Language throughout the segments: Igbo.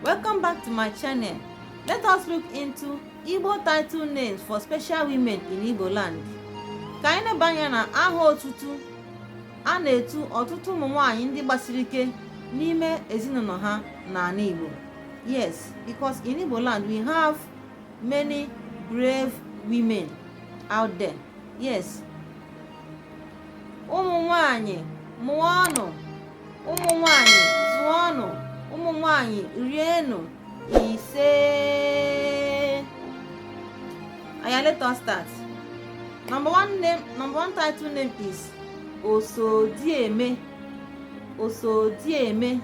Welcome back to my channel. Let us look into Igbo title names for special women in Igbo land. Ka anyị leba anya na aha otutu a na-etu ọtụtụ ụmụ nwanyị ndị gbasiri ike n'ime ezinụlọ ha n'ala Igbo. Yes, because in Igbo land we have many brave women out there. Yes. Ụmụ nwanyị mụọnụ ụmụ nwanyị zụọnụ ụmụ nwanyị rienụ ise oya let us start number one name number one title name is osodieme osodieme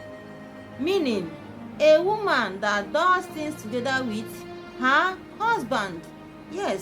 meaning a woman that does things together with her husband yes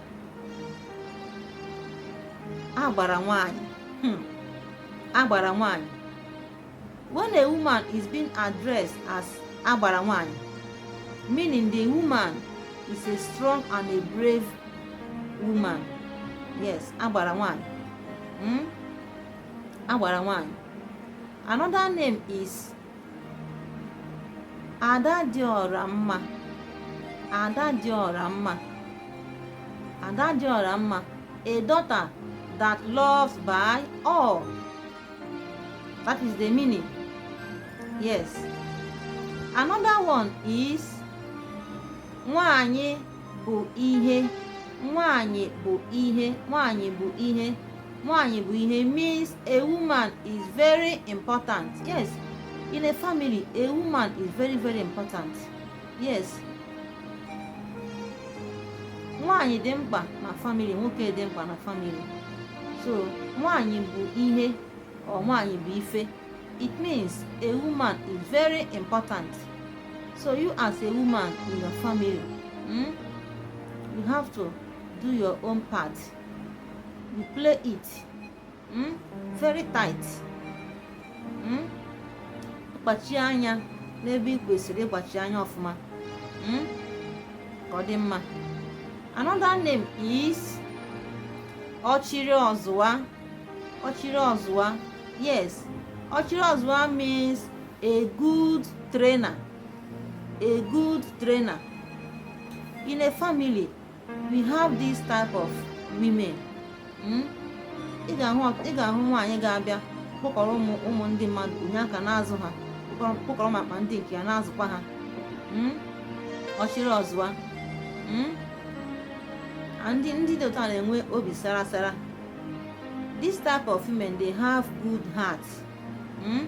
agbara nwanyị hmm. agbara nwanyị when a woman is being addressed as agbara nwanyị meaning the woman is a strong and a brave woman yes agbara nwanyị hmm? agbara nwanyị another name is ada dị ọra mma ada dị ọra mma ada dị ọra mma a daughter that loves by all that is the meaning yes another one is nwanyị bụ ihe nwanyị bụ ihe nwanyị bụ ihe nwaanyị bụ ihe means a woman is very important yes in a family a woman is very very important yes nwaanyị dị mkpa na family nwoke dị mkpa na family so nwaanyị bụ ihe or nwaanyị bụ ife it means a woman is very important so you as a woman in your family mm, you have to do your own part you play it mm? very tight mm? kpachie anya n'ebe ị kwesịrị ịkpachi anya ọfụma mm? ka ọ dị mma another name is ọchịrị ọzụwa ọchịrị ọzụwa yes ọchịrị ọzụwa means a good trainer a good trainer in a family we have this type of women hmm? ị ga-ahụ nwaanyị ga-abịa kpọkọrọ ụmụ ụmụ ndị mmadụ o nye aka na-azụ ha kpọkọrọ makwa ndị nke ya na-azụkwa ha hmm? ọchịrị ọzụwa hmm? ndị ndị dị otu a na-enwe obi sara sara this type of women they have good heart hmm?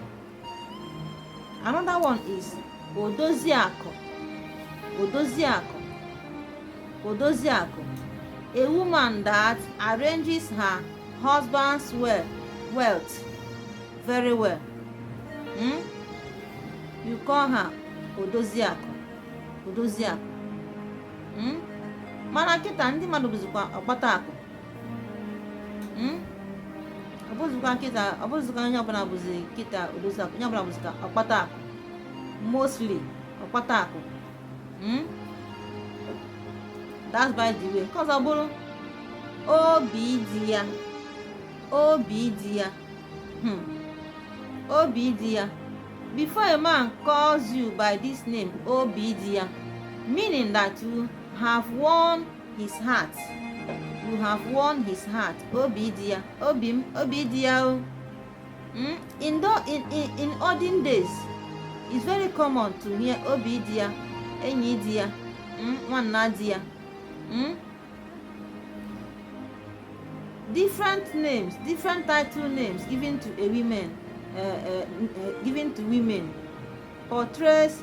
another one is odoziakụ odoziakụ odoziakụ a woman that arranges her husband's well wealth very well hmm? you call her odoziakụ odoziakụ hmm? mana kịta ndị mmadụ bụzikwa ọkpata akụ hmm? ọ bụzikwa kịta ọ bụzikwa onye ọbụla bụzi kịta odozi akụ onye ọbụla bụzikwa ọkpata akụ mostly ọkpata akụ hmm? that's by the way nke ọzọ bụrụ obi di ya obi di ya hmm. obi di ya before a man calls you by this name obi di ya meaning that you have won his heart you have won his heart obi di ya obi m obi di ya o hmm? in, the, in, in, in olden days it's very common to hear obi di ya enyi di ya hmm? nwanna di ya hmm? different names different title names given to a woman uh, uh, uh, given to women portrays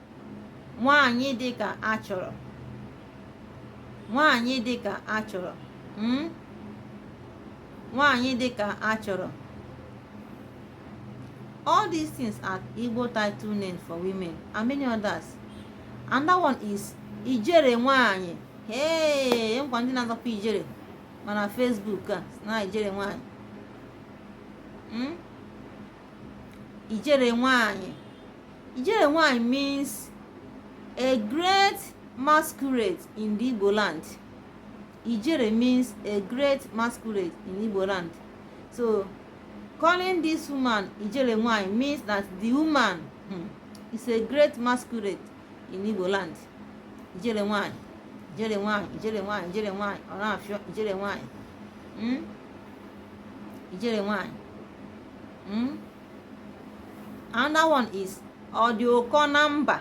nwaanyị dị ka a chọrọ nwaanyị dị ka a chọrọ hmm? nwaanyị dị ka a chọrọ all these things are Igbo title names for women and many others another one is ijele nwaanyị ee e ngwa ndị na-azọkwa ijele ma na Facebook a na ijele nwaanyị hmm? ijele nwaanyị Ijele nwanyị means a great masquerade in the Igbo land. Ijele means a great masquerade in Igbo land. So calling this woman Ijele nwanyị means that the woman hmm, is a great masquerade in Igbo land. Ijele nwanyị, Ijele nwanyị, Ijele nwanyị, Ijele nwanyị, ọ na-afịọ Ijele nwanyị. Hmm? Ijele nwanyị. Hmm? another one is ọ dị ụkọ na mba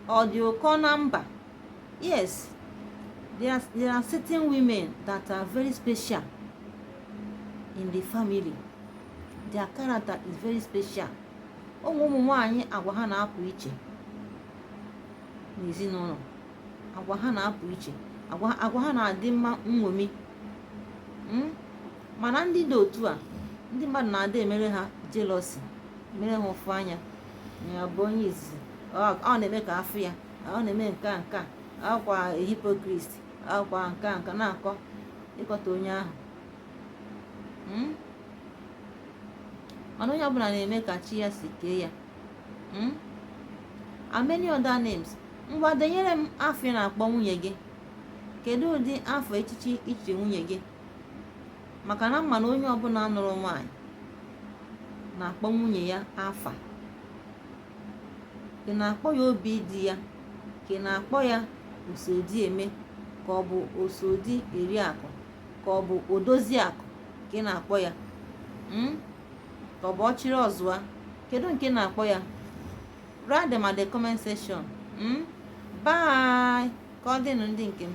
ọ dị ụkọ na mba yes there are, there are certain women that are very special in the family their character is very special o nwere ụmụ nwanyị agwa ha na-apụ iche n'ezinụlọ agwa ha na-apụ iche agwa ha na-adị mma nṅomi hmm? mana ndị dị otu a ndị mmadụ na-adị emere ha jealousy mere ha ụfụ anya ya bụ onye izizi ọ na-eme ka a fụ ya ọ na-eme nke a nke a akwa hypocrite akwa nke a nke na-akọ ịkọta onye ahụ hmm? mana onye ọbụla na-eme ka chi ya si kee ya hmm? and many other names ngwa denyere m afa ị na-akpọ nwunye gị kedu ụdị afa echichi i chiri nwunye gị maka na m ma na onye ọbụla nụrụ nwaanyị na-akpọ nwunye ya afa ị na-akpọ ya obi di ya ka ị na-akpọ ya oso di eme ka ọ bụ oso di eri akụ ka ọ bụ odozi akụ ka ị na-akpọ ya hmm? ka ọ bụ ọchịrị ọzụa kedu nke ị na-akpọ ya write them at the comment section hmm? bye ka ọ dịnụ ndị nke m